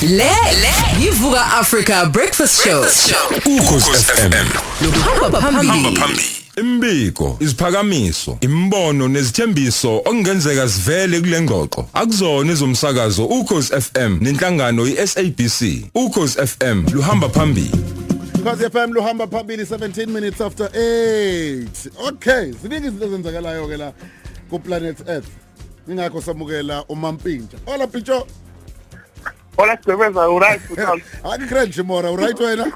Le le yivuka Africa Breakfast Show. Ukhosi FM. Hamba phambili. phambili Imbiko, iziphakamiso, imbono nezithembiso okungenzeka sivele kule ngxoxo. Akuzona ezomsakazo uKhosi FM nenhlangano iSABC. uKhosi FM luhamba phambili. Khosi FM luhamba phambili 17 minutes after 8. Okay, ziningi izinto ezenzakalayo ke la ku planet Earth. Ingakho samukela uMampintsha. Hola Pintsho. Hola Sibeza, uright futhi. Hayi grand Jimora, uright wena?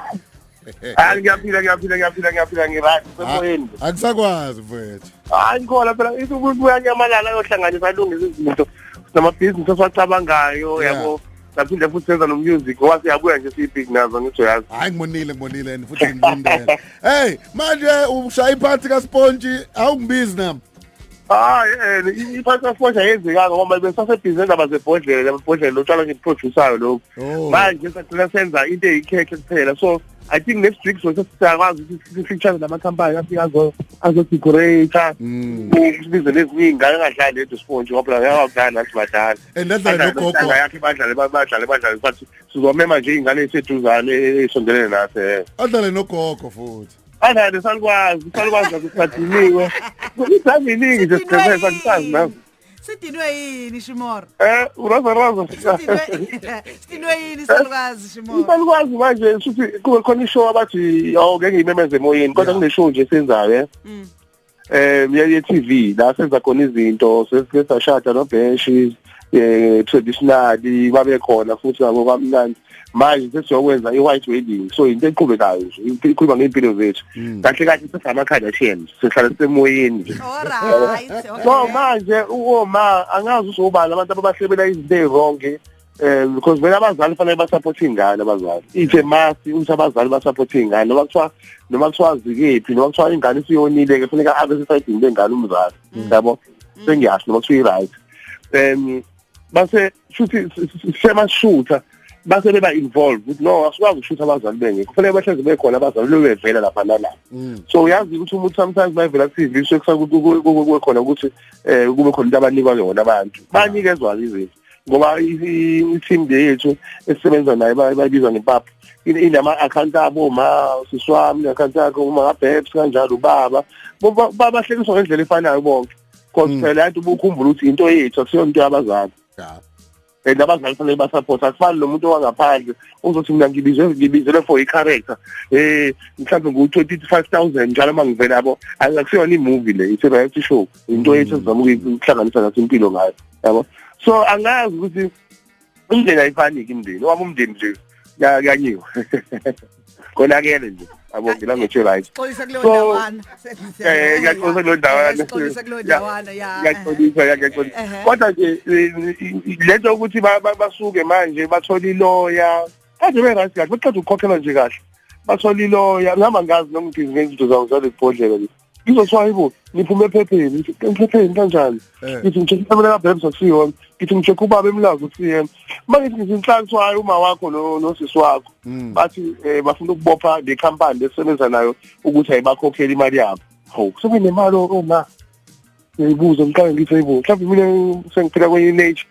Hayi ngiyaphila ngiyaphila ngiyaphila ngiyaphila ngiright semoyeni. Ah, Akusakwazi mfethu. Hayi ngikhola phela isubuya nyamalala yohlanganisa alungisa izinto. Namabhizinisi esiwacabangayo yabo. saphinde futhi senza nomusic ngoba siyabuya nje siyi-big nazo ngisho yazi hayi ngibonile ngibonile and futhi ngilindele hey manje ushaya iphathi kaspontshi awungibizi nami hayi um iphathi kaspontshi ayenzekanga ngoba besasebhizi nendaba zebhodlela amabhodlela lotshwala ngibuprodusayo lokhu oh. manje sacina senza into eyikhekhe kuphela so i think next week so sesiyakwazi ukuthi sifeature namakhampani afike azo azodecorate mm. sibize nezinye ingane engadlali ledo sport ngoba la yakudlala nathi badlali and adlale nogogo yakhe badlale badlale badlale bathi sizomema nje ingane eseduzane esondelene nathi eh. adlale nogogo futhi adlale salukwazi salukwazi ukuthi sadiniwe kusaziningi nje siqhubeka kusazi nazo sidinwe yini shimoro eh uraza raza sidinwe yini eh? salukazi shimoro salukazi manje shuthi kube khona ishow abathi awuke ngiyimemeze emoyeni kodwa kuneshow nje senzayo eh mm. eh ye TV la senza khona izinto sesashada nobenshi eh traditionally babe khona futhi ngabo kamnandi manje sesiyokwenza i-white wedding so yinto eqhubekayo nje ikhuluma ngey'mpilo zethu hmm. kahle kahle sesama-kardashians sihlala sisemoyeni so manje uoma angazi usobala abantu ababahlebela izinto ey'ronge um because vele abazali fanele basapothe iy'ngane abazali ithe masi ukuthi abazali basapothe iy'ngane noma kuthiwa noma kuthiwa zikephi noma kuthiwa ingane isiyonile-ke funeka abe sesayidini lengane umzali hmm. yabo hmm. sengiyasho noma kuthiwa i-right um base futhi semashutha base beba involved ukuthi no asikwazi ukushutha abazali benge kufanele bahleze bekhona abazali bebevela lapha nalapha mm. so uyazi ukuthi umuntu sometimes bayivela TV sekusakuthi khona ukuthi eh kube khona into abanikwa yona abantu banikezwa izinto ngoba i-team yethu esisebenza naye bayibiza ngempapha inama account abo ma siswami account yakho uma ngabheps kanjalo ubaba babahlekiswa ngendlela efanayo bonke cause Mm. phela yathi ubukhumbula ukuthi into yethu akusiyona into yabazali Yeah. and abazali fanele basupport akufani nomuntu owangaphandle uzothi mina ngibizwe ngibizelwe for i-character um mhlawumbe ngu-twenty five thousand njalo uma ngivela yabo Ayi, akusiyona imovie le it's a reality show into yethu esizama ukuyi- ukuhlanganisa naso impilo ngayo yabo so angazi ukuthi umndeni ayifaniki imndeni wami umndeni nje kanyiwe konakele nje yabo ngila ngisho right xoyisa kuleyo ndawana eh ngiyaxolisa kuleyo ndawana xoyisa kuleyo ndawana ya ngiyaxolisa ngiyaxolisa kodwa nje lento ukuthi basuke manje bathola iloya kaze be right kahle baqeda ukukhokhela nje kahle bathola iloya ngihamba ngazi noma ngibhizi ngezinto zawo zalebhodlela ngizothiwa hayibo niphume ephepheni ephepheni kanjani eh. ngithi ngitshekhe ikamela kabhebs akusiyona ngithi ngitshekhe ubaba emlazi ukusiyena uma ngithi ngithi inhlanhliso hayi uma wakho nosisi wakho hmm. bathi um bafuna ukubopha le khampani lesebenza nayo ukuthi ayibakhokheli imali yabo hawu sekunemali oma ngiyibuze ngiqale ngithi hayibo mhlawumbe mina sengiphila kwenye i-nature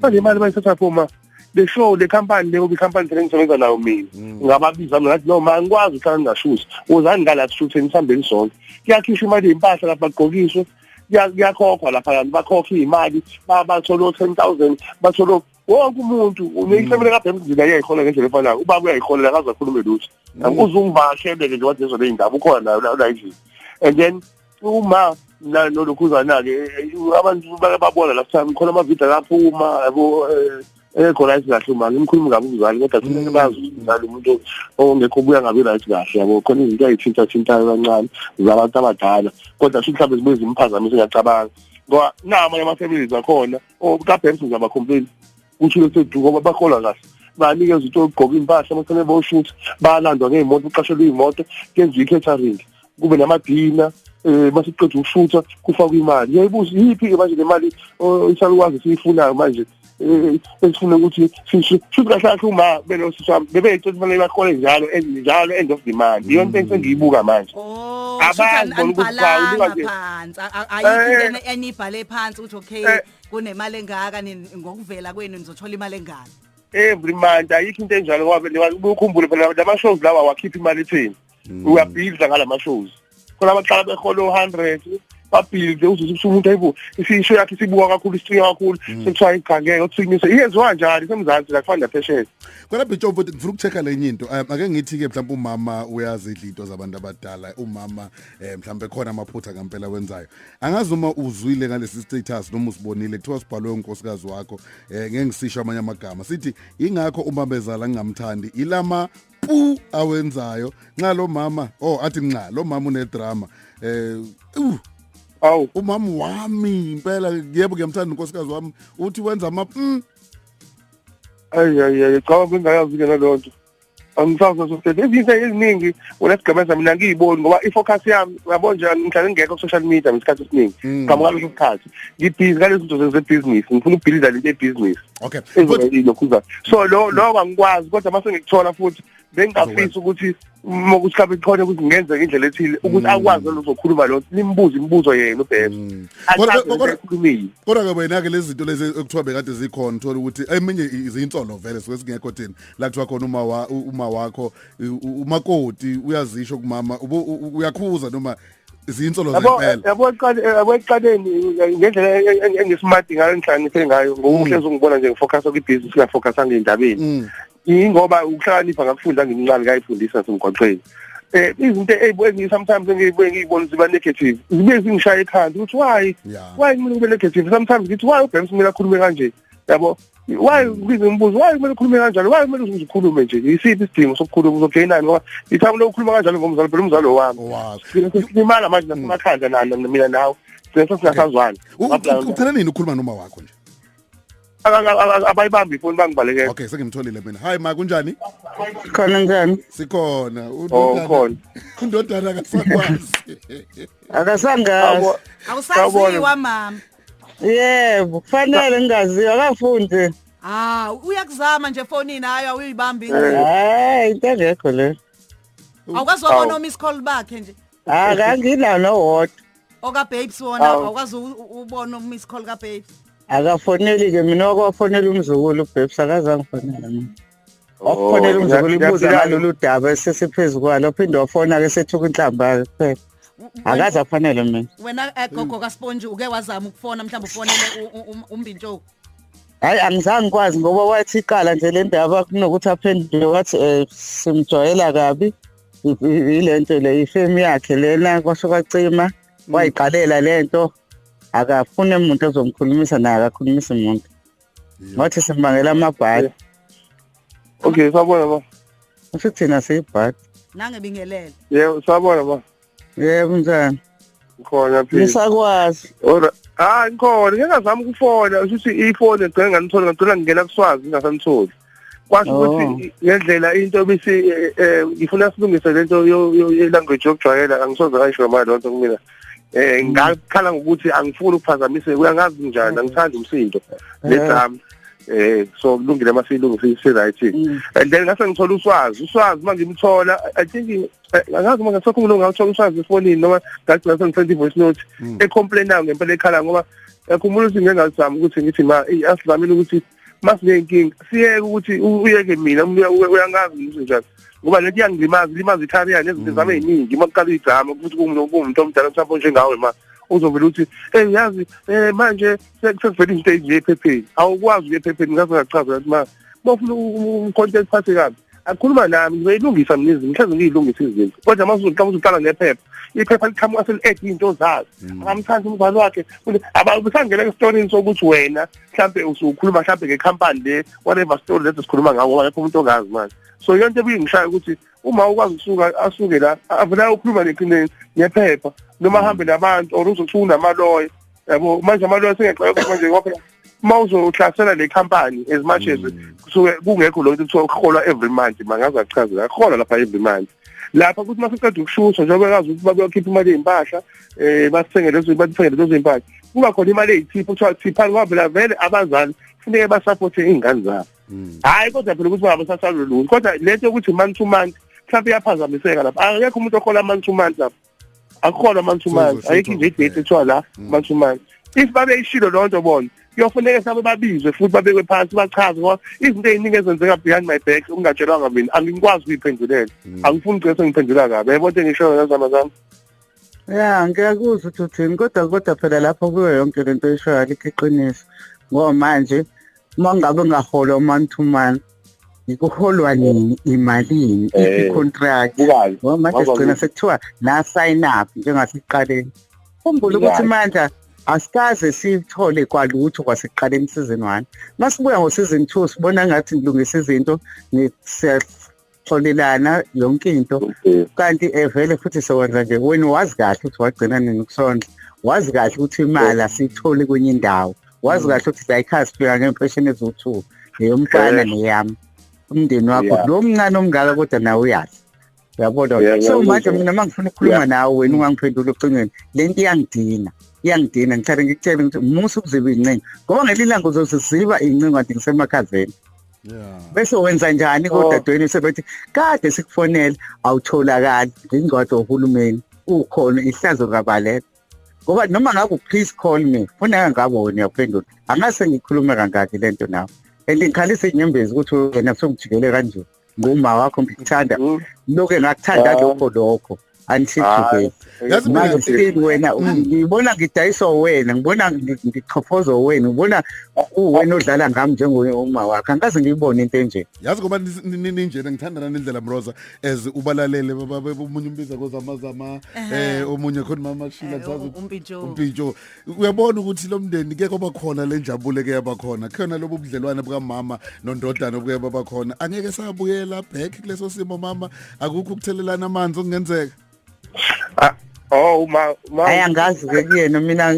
manje imali bayithatha phuma the show le company leyo company sele ngisebenza nayo mina mm. ngababiza mina ngathi no ma ngikwazi ukuhlala ngingashuthi uzani ngala sishutheni sihambeni sonke kuyakhishwa imali yempahla lapha bagqokiswe kuyakhokhwa lapha kanti bakhokha imali bathola o10000 bathola wonke umuntu uneyisemele kade emzini ayayihona ngendlela efanayo ubaba uyayiholela akazakhulume lutho mm. angikuze ungivakashele ke nje wathi ezona indaba ukhona nayo la izini and then uma na nolokhuzana ke abantu babona last time khona ama video lapho uma yabo eh, ekho right kahle uma ngimkhulumi kabi umzali kodwa kumele mm. bazi umzali umuntu ongekho ubuya ngabi right kahle yabo khona izinto ayithinta thintayo kancane zabantu abadala kodwa sho mhlawumbe zibuye zimphazamisa ngiyacabanga ngoba nama ama families akhona o ka Banks ngizaba complain kusho leseduka ngoba bakholwa kahle banikeza ukuthi ogqoka impahla abafanele boshuthi balandwa ngeyimoto uqashelwe iyimoto kenziwa i-catering kube namadina eh basiqeda ukushutha kufakwa imali yayibuza yiphi ke manje lemali isalukwazi siyifunayo manje eh, esifuna ukuthi sisho futhi kahle kahle uma belo sisam bebe icela fanele bakhole njalo njalo end of the month iyo into engiyibuka manje oh, abazi ukuthi bawuka nje phansi ayikho eh, enibhale phansi ukuthi okay eh, kunemali engaka nini ngokuvela kwenu nizothola imali engaka every month ayikho into enjalo ngoba ukukhumbule phela lama shows lawa wakhipha imali ethini mm. uyabhidla ngalama shows khona abaqala behola u100 babhidle uzuze ukuthi umuntu ayibo isisho yakhe sibuka kakhulu isicinga kakhulu mm. sekuthiwa igangeke uthinyise iyenziwa njani semzansi la kufana phesheya kodwa bitsho futhi ngifuna ukuchecka lenye into um, ake ngithi ke mhlawumbe umama uyazidla into zabantu abadala umama eh mhlambe khona amaphutha ngempela wenzayo angazi uma uzwile ngalesi status noma usibonile kuthiwa sibhalwe unkosikazi wakho eh ngeke ngisisho amanye amagama sithi ingakho uma bezala ngingamthandi ilama pu awenzayo nxa lo mama oh athi nxa lo mama unedrama eh uh, awu umama wami impela yebo ngiyamthanda unkosikazi wami uthi wenza ama mm. ayi ayi ayi cha bengayazi ke nalonto angisazwa sokusebenza izinto eziningi wena sigqemeza mina ngiyiboni ngoba i-focus yami uyabo nje ngihlale ngekho ku-social media ngesikhathi esiningi mm. ngaphambi kwaleso sikhathi ngibhizi ngalezo zinto zezebhizinisi ngifuna ukubhilida lento ebhizinisi okay lokhuza so lo lo angikwazi kodwa mase ngikuthola futhi bengingafisi ukuthi uma ukuthi kabe khona ukuthi ngenzeke indlela ethile ukuthi mm. akwazi lozokhuluma lo nimbuze imibuzo yena ubheka mm. kodwa ke wena ke lezi zinto lezi ekuthiwa bekade zikhona uthola ukuthi eminye izinsolo vele sike singekho thina la kuthiwa khona uma wa, uma wakho umakoti uyazisho kumama uyakhuza noma zinsolo zempela yabo yabo eqaleni ngendlela engisimadi ngayo engihlakaniphe ngayo ngokuhle mm. ngibona nje ngifocus ku business la focus angindabeni mm. ingoba ukuhlakanipha ngakufunda ngimncane kayifundisa semgwaqweni eh izinto ezibuye sometimes engibuye ngibona ziba negative zibe zingishaya ekhanda ukuthi why why mina ngibe negative sometimes ngithi why uBems mina akhulume kanje yabo why ngize ngibuze why kumele ukhulume kanjalo why kumele uzikhulume nje yisiphi isidingo sokukhuluma uzojoyinani ngoba ithamu lokukhuluma kanjalo ngomzali phela umzali wami silimala manje nasemakhanda nana mina nawe sese singasazwana ucela nini ukhuluma noma wakho nje abayibambi ifoni bangibalekela okay sengimtholile mina hi ma kunjani khona njani sikhona oh, ukhona undodana akasakwazi akasangazi awusaziwa mama yebo kufanele ngingaziwa akafunde Ah, uyakuzama nje efonini hayi awuyibambi ingcingo. hayi into engekho le Awukwazi wabona o-miss call bakhe nje. hayi kanginawo nowodwa Oka babes wona Awu. awukwazi u- u- ubona o-miss call ka babes. akafoneli-ke mina wakuwafonela umzukulu ubhebsa akazangifonela mina okukhonela umzukulu ibuza ngalolu daba esesiphezu kwalo phinde wafona ke sethuka inhlamba kuphela akaze afanele mina wena eh, gogo kasponji uke wazama ukufona mhlawumbe ufonele umbintshoku hayi angizange ngikwazi ngoba wathi iqala nje le ndaba kunokuthi aphendule wathi um simjwayela kabi yile nto le ifemu yakhe lena kwasho kwacima mm. wayiqalela le nto akafune muntu ozomkhulumisa naye akakhulumisi muntu Ngathi simbangela amabhadi. Okay, sabona ba. Usho thina siyibhadi. Nange bingelele. Yebo, sabona ba. Yebo njani? Ngikhona phela. Ngisakwazi. Ora. Ah, ngikhona. Ngingazama ukufona, usho ukuthi ifoni ngicela nganitholi, ngicela ngingena kuswazi ngingasanitholi. kwasho oh. ukuthi ngendlela into ebisi eh, eh, ngifuna silungise lento ye-language yokujwayela angisoze ngayisho ngamali lonto kumina eh mm. ngakhala ngokuthi angifuni ukuphazamiseka uyangazi njani angithandi umsindo lezami eh. eh so kulungile masilungise si right mm. and then ngase ngithola uswazi uswazi mangimthola i think angazi uma ngasakho umuntu ngawuthola uswazi efonini noma ngagcina sengithola i-voice note mm. e-complainayo ngempela ekhala ngoba yakhumbula ukuthi ngengazami ukuthi ngithi ma asidlamile ukuthi masinenkinga siyeke ukuthi uyeke mina uyangazi ngizo njani ngoba lento iyangilimaza ilimaza i-career nezinto mm. zami ey'ningi uma kuqala igama ukuthi kuwumuntu omdala mhlawumbe onjengawe ma uzovele ukuthi eyi yazi um manje sekuvele izinto ezinje ephepheni awukwazi ukuya ephepheni ngaze ngachaza ukuthi ma bofuna umkhonto eliphathe kabi akhuluma nami ngiyilungisa mina izinto mhlawumbe ngiyilungisa izinto kodwa mase uzoqala uzoqala nephepha iphepha liqhamuka seli-add iy'nto zazo mm. angamthandi umzali wakhe abusangena esitoreni sokuthi wena mhlawumbe usukhuluma mhlawumbe ngekhampani le whatever story lesi sikhuluma ngawo ngoba lapho umuntu ongazi manje so iyo nto ebuyingishaya ukuthi uma ukwazi ukusuka asuke la avela ukhuluma nephepha noma ahambe nabantu or uzothuka unamaloya yabo manje amalwa singexoxa manje ngoba uma uzohlasela le company as much as mm. kusuke kungekho lo kuthiwa uholwa every month mangaze achazela aholwa lapha every month lapha ukuthi masiqeda ukushusha njengoba kazi ukuthi bakuyokhipha imali yezimpahla eh basithenge lezo bathenge lezo zimpahla kuba khona imali eyithipha kuthiwa thipha ngoba vele vele abazali funeke basupporte izingane zabo mm. hayi kodwa phela ukuthi baba sasalulungu kodwa lento yokuthi month to month mhlawumbe iyaphazamiseka lapha akekho umuntu ohola month to month lapha akukhona mansumazi ayikho nje idate ethiwa la mm. mansumazi if babeyishilo loo nto bona kuyofuneka sabe babizwe futhi babekwe phansi bachaze ngoba izinto eziningi ezenzeka behind my back ungatshelwanga mina angikwazi ukuyiphendulela mm. angifuni ugcine sengiphendula kabi yayibona into engishoyo ngazama zami ya ngiyakuzwa ukuthi uthini kodwa kodwa phela lapho kuyo yonke le nto oyishoyo alikho iqiniso ngoba manje uma ngabe ngahola u-man to man ikuholwa nini imalini Eh, i-contract bukazi ngoba manje Ngoba sigcina ku- sekuthiwa la sign up njengasiqaleni khumbula ukuthi Right. manje asikaze sithole kwalutho kwasekuqaleni isizini one masibuya ngosizini two sibona ngathi ngilungisa izinto ngi- siyaxolelana yonke into okay. kanti evele futhi sewenza nje wena wazi kahle ukuthi wagcina nini kusondla wazi kahle ukuthi imali asiyitholi kwenye indawo wazi kahle ukuthi zayikhaya sifika ngempesheni eziwu-two neyomfana Eh. neyami umndeni wakho Yeah. lo mncane omngaka kodwa nawe uyazi uyabona Yeah, so ngiyakuzwa. manje mina uma ngifuna ukukhuluma Yeah. nawe wena ungangiphendula ocingweni le nto iyangidina iyangidina ngithanda ngikutshele ukuthi musa ukuziba iy'ncingo ngoba ngelinye ilanga uzoziziba iy'ncingo kanti ngisemakhazeni Yeah. bese wenza njani Oh. kodadweni sebethi kade sikufonela awutholakali ngingcwadi wohulumeni ukhona ihlazo kabaleka ngoba noma ngaku please call me funa ngaboni yaphendula angase ngikhulume kangaki lento nawe and ngikhalisa inyembezi ukuthi wena sokujikele kanje nguma wakho ngikuthanda mm. loke ngakuthanda ah. lokho lokho angisijikele ah, manje sike wena mm. ngibona ngidayiswa wena ngibona ngichofozwa wena ngibona uwena odlala ngami njengoma wakho angikaze ngiyibone into enje yazi ngoba ninjena ngithandana nendlela mroza as ubalalele omunye umbiza kozamazama eh omunye khona mama shila kusazi eh, umpintsho uyabona ukuthi lo mndeni ke kwaba khona le njabule ke yaba khona khona lobu budlelwane bukamama nondodana obuke baba khona angeke sabuyela back kuleso simo mama akukho ukuthelelana amanzi okungenzeka Oh uma uma Hayi angazi ke kuyena mina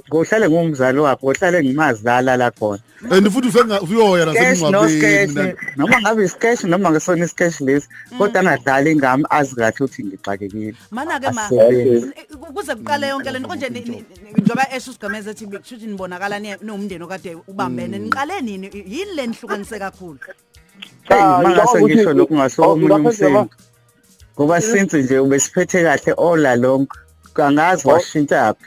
ngohlale ngumzali wakhe ngohlale ngimazi la lala khona. And futhi ufenga uyoya nasemngcwabeni. Noma ngabe isikesh noma ngesona isikesh lesi mm. kodwa angadlali ingami azi kahle ukuthi ngixakekile. Mana ke ma kuze kuqale yonke lento konje njengoba esho usigameza ethi kushuthi nibonakala niwumndeni okade ubambene mm. niqale nini yini lenihlukanise kakhulu. Hey Cha, mangase ngicabanga ukuthi- ngisho lokhu ngasuka Oh, omunye lapha nje umsindo. Ngoba since nje ubesiphethe kahle all along kangazi Oh. washintshaphi.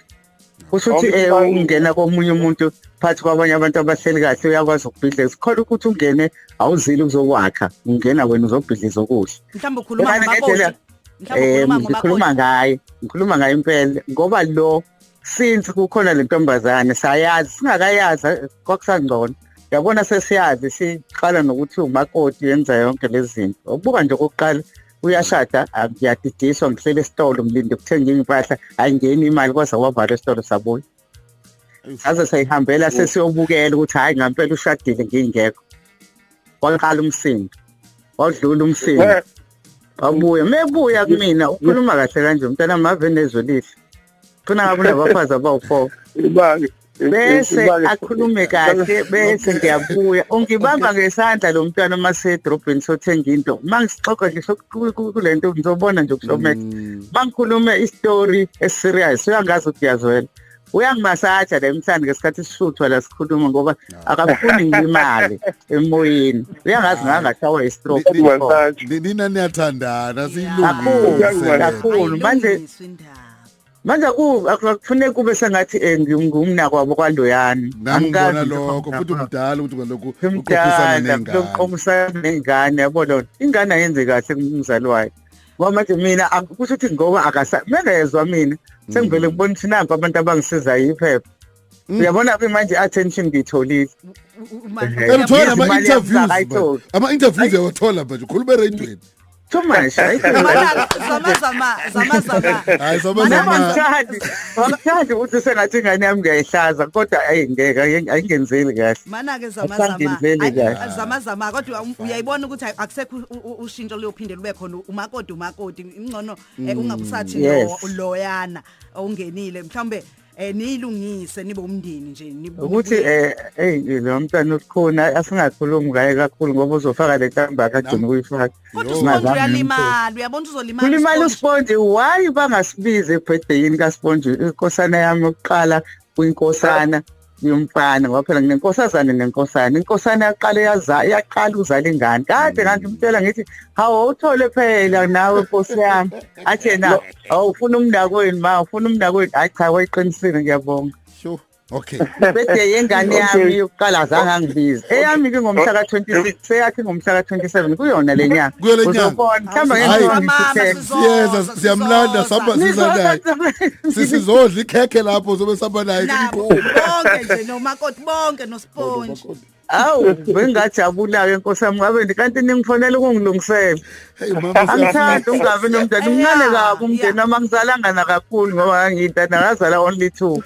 Kusho ukuthi eh Awucabangi- ungena komunye umuntu phansi kwabanye abantu abahleli kahle uyakwazi ukubhidliza. Khona ukuthi ungene awuzile uzokwakha. Ungena wena uzobhidliza okuhle. mhlawumbe ukhuluma Yabani ngendlela- ngababoti mhlawumbe Eh ukhuluma ngikhuluma ngababoti ngaye. Ngikhuluma ngaye impela ngoba lo since kukhona le ntombazane sayazi singakayazi kwakusangcono yabona sesiyazi siqala nokuthi umakoti yenza yonke lezi zinto ukubuka nje okokuqala uyashada ngiyadidiswa ngihlele esitolo ngilinde kuthenga impahla ayingeni imali kwaze wavala esitolo sabuya saze sayihambela sesiyobukela ukuthi hhayi ngampela ushadile ngingekho waqala umsindo wadlula umsindo wabuya mebuya kumina ukhuluma kahle kanje mntana mave nezwe lihle khona ngabe unabafazi abawu-four bese akhulume kahle bese ngiyabuya ungibamba ngesandla lo mntwana uma sedrobheni sothenga into uma ngisixoxa ngisho kule nto ngizobona nje kushowmax mm. uma ngikhulume isitori esiserious uyangazi ukuthi uyazwela uyangimasaja la emhlanje ngesikhathi sishuthwa la sikhuluma ngoba akafuni ngilimale emoyeni uyangazi ngangashawa istroke nina niyathandana siyilungile kakhulu manje manje akufuneki kube sengathi eh, ngumnakwabo kwaloyani angikazi lokho futhi umdala ukuthi lokhu uqomisana nengane yabo lona ingane ayenze kahle kumzali wayo ngoba manje mina kusho ukuthi ngoba akasa mengezwa mina sengivele mm. ngibona ukuthi nanku abantu abangisizayo iphepha Mm. uyabona ke manje attention ngiyitholile elithola ama interviews ama interviews yawathola manje ukhuluma eradweni too much hayi zama zama zama zama hayi zama zama ngithandi ngithandi ukuthi sengathi ingane yami ngiyayihlaza kodwa ayi ngeke ayingenzeli kahle mana ke zama zama zama zama kodwa um, uyayibona ukuthi akusekho ushintsho loyophinde lube khona umakoti umakoti ingcono eh, mm, ungabusathi loyana ongenile mhlawumbe eh niyilungise nibe umndeni nje ukuthi eh hey lo mntana usikhona asingakhulumi ngaye kakhulu ngoba uzofaka le kamba akagcina ukuyifaka kodwa uyalimala uyabona uzolimala ulimala usponge why bangasibize ebhedeyini kasponge inkosana yami yokuqala kwinkosana yomfana ngoba phela nginenkosazane nenkosana inkosana yaqala yaza yaqala uzala ingane kade kanti umtshela ngithi hawu uthole phela nawe nkosi yami athe na awu ufuna umndakwenu ma ufuna umndakwenu hayi cha wayiqinisile ngiyabonga sure okay bese yengane yami yokuqala azange angibize eyami ke ngomhla ka 26 seyakhe ngomhla ka 27 kuyona le nyanga Kuyo le nyanga. uzobona hamba Hayi. ngenkonzo Mama, ngithuthe sizo- siyeza Sizodwa. siyamlanda sihamba siza naye sisizodla ikhekhe lapho sobe sihamba naye nabo bonke nje nomakoti bonke nosponge Kodwa, kodwa. Awu bengajabula-ke nkosi yami ngabe nje kanti ningifonela ukungilungisela. Hey mama Angithandi ungabi nomndeni umncane kabi umndeni noma ngizalanga nakakhulu ngoba ngangiyintana ngazala only two.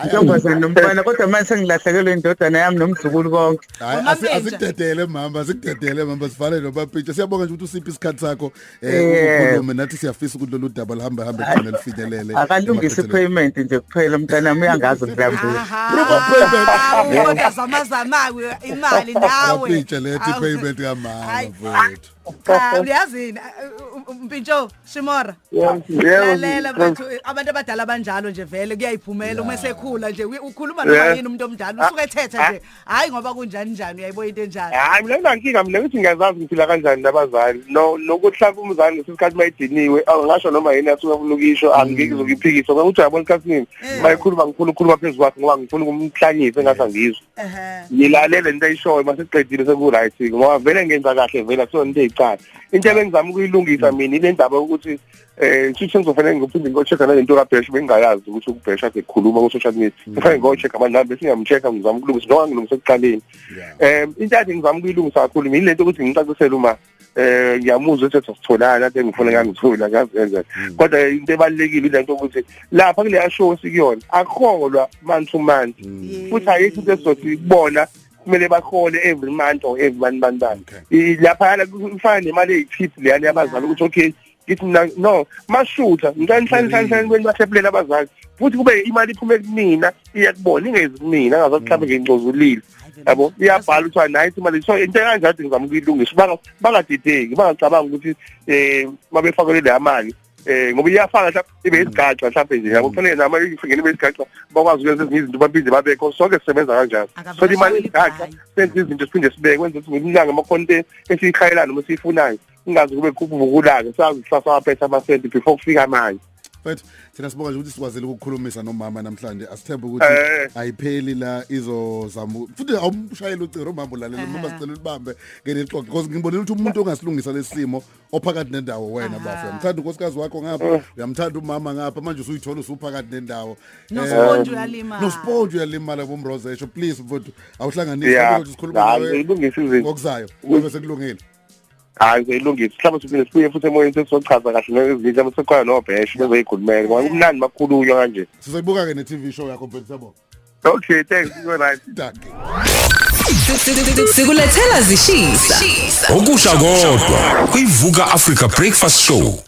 Ntombazane nomfana kodwa manje sengilahlekelwe indodana yami nomzukulu konke. Hayi Mama asi- Mpenja. asikudedele mama asikudedele mama sivale lo bapitsha siyabonga nje ukuthi usiphi isikhathi sakho eh ukhulume nathi siyafisa ukuthi lolu daba luhambe hambe khona lifinyelele akalungise ipayment nje kuphela umntana wami uyangazi ngilambile proper payment ubona zama zama imali nawe ngitshe lethi payment kamama mfowethu cha uyazini mpintsho shimora lalela mfethu abantu abadala banjalo nje vele kuyayiphumela uma sekhula nje ukhuluma noma yini umuntu omdala usuke ethetha nje hayi ngoba kunjani njani uyayibo into enjalo hayi mina nginankinga mina ngithi ngiyazazi ngiphila kanjani nabazali no nokuhlaba umzali ngesikhathi mayidiniwe angasho noma yini asuke afuna ukisho angike mm. zokuphikisa ngokuthi yabona isikhathini eh. mayikhuluma ngikhulu khuluma phezu kwakhe ngoba ngifuna ukumhlanyisa engathi angizwe ngilalele into ayishoyo masiqedile seku right ngoba vele ngenza kahle vele so into eyicala into ebengizama ukuyilungisa mm. mina ile ndaba ukuthi eh sithe ngizofanele ngiphinde ngocheck nale nto kabhesh bengayazi ukuthi ukubhesh ade khuluma ku social media mm. kufanele ngocheck amanamba singamcheck ngizama ukulungisa njengoba ngilungisa ekuqaleni em eh, intathi ngizama ukuyilungisa kakhulu mina lento ukuthi ngicacisele uma eh ngiyamuzwa ukuthi sasitholana ade ngifuna ngangithola ngazi kanjani mm. kodwa into ebalekile lento ukuthi lapha kule show sikuyona akholwa man to man mm. futhi ayikho into esizothi ikubona kumele bahole every month or every one month lapha kufana nemali eyichip leyani yabazali ukuthi okay ngithi mina no mashutha ngicela nihlale hlale hlale kweni bathephulela abazali futhi kube imali iphume kumina iya kubona ingezi kumina ngaze mhlawumbe ngingcozulile yabo iyabhala ukuthi nayi imali so into kanjalo ngizama ukuyilungisa banga bangadideki bangacabanga ukuthi eh mabefakelwe le mali eh ngoba iyafana mhlawumbe ibe isigaxa mhlawumbe nje yabo kufanele nama ifingene ibe isigaxa bakwazi ukwenza ezinye izinto baphinde babekho sonke sisebenza kanjalo so imali isigaxa senza izinto siphinde sibeke kwenza ukuthi ngimlanga amakhonte esiyikhayelana uma siyifunayo ingazi kube kukuvukulake sazi kusasa waphetha amasenti before kufika manje but thina sibonga nje ukuthi sikwazile ukukhulumisa nomama namhlanje asithembe ukuthi eh. ayipheli la izozama futhi awumshayela uciro umama ulalela noma sicela ulibambe ngelixoxe because ngibonile ukuthi umuntu ongasilungisa lesimo ophakathi nendawo wena bafo uyamthanda unkosikazi wakho ngapha eh. uyamthanda umama ngapha manje usuyithola usuphakathi nendawo nosponge eh, uyalimala nosponge uyalimala bomrozesho please mfowethu awuhlanganise ukuthi sikhuluma nawe ngokuzayo kube sekulungile hayi seyilungisa mhlawumbe siphinde sibuye futhi emoyeni sesizochaza kahle nezinja besekhona nobheshe bezoyikhulumela ngoba kumnandi makhulunywa kanje sizoyibuka ke ne TV show yakho mfethu sabo Okay thanks you right danke sikulethela zishisa okusha kodwa kuyivuka Africa breakfast show